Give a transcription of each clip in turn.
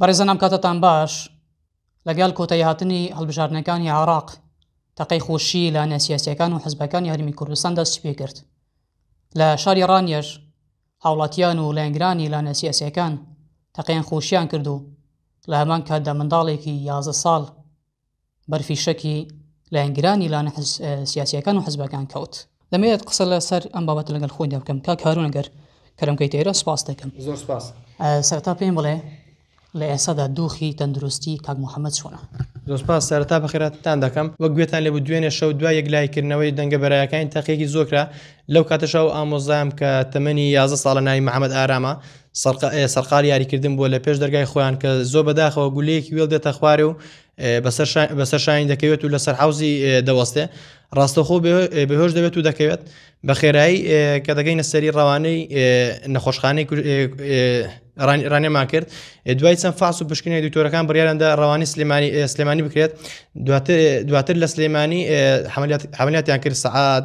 بەڕێزان ئەم کاتەتان باش، لەگەڵ کۆتاییهاتنی هەڵبژاردنەکانی عێراق تەقەی خۆشی لایەنە سیاسییەکان و حزبەکانی هەرێمی کوردستان دەستی پێکرد لە شاری ڕانیەش هاوڵاتیان و لایەنگرانی لایەنە سیاسییەکان تەقەیان خۆشیان کرد و لە هەمان کاتدا منداڵێکی یازدە ساڵ بەرفی شەکی لایەنگرانی لانە سیاسیەکان و حزبەکان کەوت دەمەوێت قسە لە سەر ئەم بابەت لەگەل خۆی دەبکەم کا کارون گەر کەرم کەی تێرە سپاس دەکەم زۆر سپاس سەرتا پێم بڵێ لە ئێسادا دووخی تەندروستی کاک محەممەد چۆنە زۆسپاس سەرتا بەخێراتتان دەکەم وە گوێتان لێ دوێنێ شەو دوای یەک لایکردنەوەی دەنگە بەرایەکانی تەقێکی زۆکرا لەو کاتەشا و ئامۆزایم کە تەمەنی یازە ساڵە ناوی محەممەد ئارامە سەرقال یاریکردن بووە لە پێش دەرگای خۆیان کە زۆر بەداخەوە گولەیەکی وێڵ دێتە خوارێ و بەسەر شاین دەکەوێت و لەسەر حوزی دەوەستێ ڕاستەخۆ بەهۆش دەبێت و دەکەوێت بە خێرایی کە دەگەینە سەری ڕەوانەی نەخۆشخانەی ڕانێمان کرد دوای چەند فاس و پشکنی دکتۆرەکان بڕیاراندا ڕەوانی سلێمانی سلێمانی بکرێت دواتر لە سلێمانی حملیاتیان کرد سعات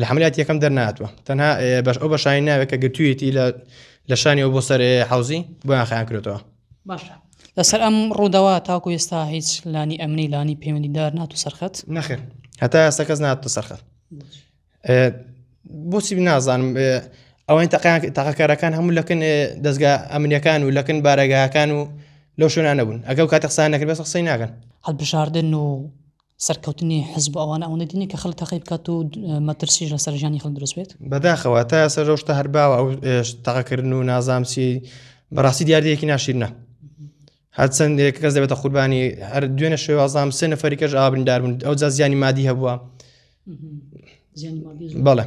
لە حملات یەکەم دەرناتوە تەنها بەش ئەو بەشانی ناوێت کە گرتوویەتی لە لە شانی ئەو بۆ سەر حوزی بۆیان خیان کرێتەوە باشە لەسەر ئەم ڕووداوە تاکو ئێستا هیچ لانی ئەمنی لانی پەیوەندیدار نات و سەرخەت نەخێر هەتا ئێستا کەس نات سەرخەت بۆچی نازانم ئەوەی تەقیان تاقەکارەکان هەموو لەکن دەستگا ئەمنیەکان و لەکن بارەگاکان و لەو شوێنانە بوون ئەگەڵ کاتە قسان نەکرد بەس قسەی ناگەن هەڵبژاردن و سەرکەوتنی حزب و ئەوانە ئەوەندە دینێ کە خەڵک تەقەی بکات و مەترسیش لەسەر ژیانی خەڵک دروست بێت بەداخەوە تا سەر ڕۆشتە هەر باوە ئەو تەقەکردن و نازام چی بەڕاستی دیاردەیەکی ناشیرنە هەرچەند کەس دەبێتە قوربانی هەر دوێنە شێوازام سێ نەفەریکەش ئابنداربوون ئەو جا زیانی مادی هەبووە بەڵێ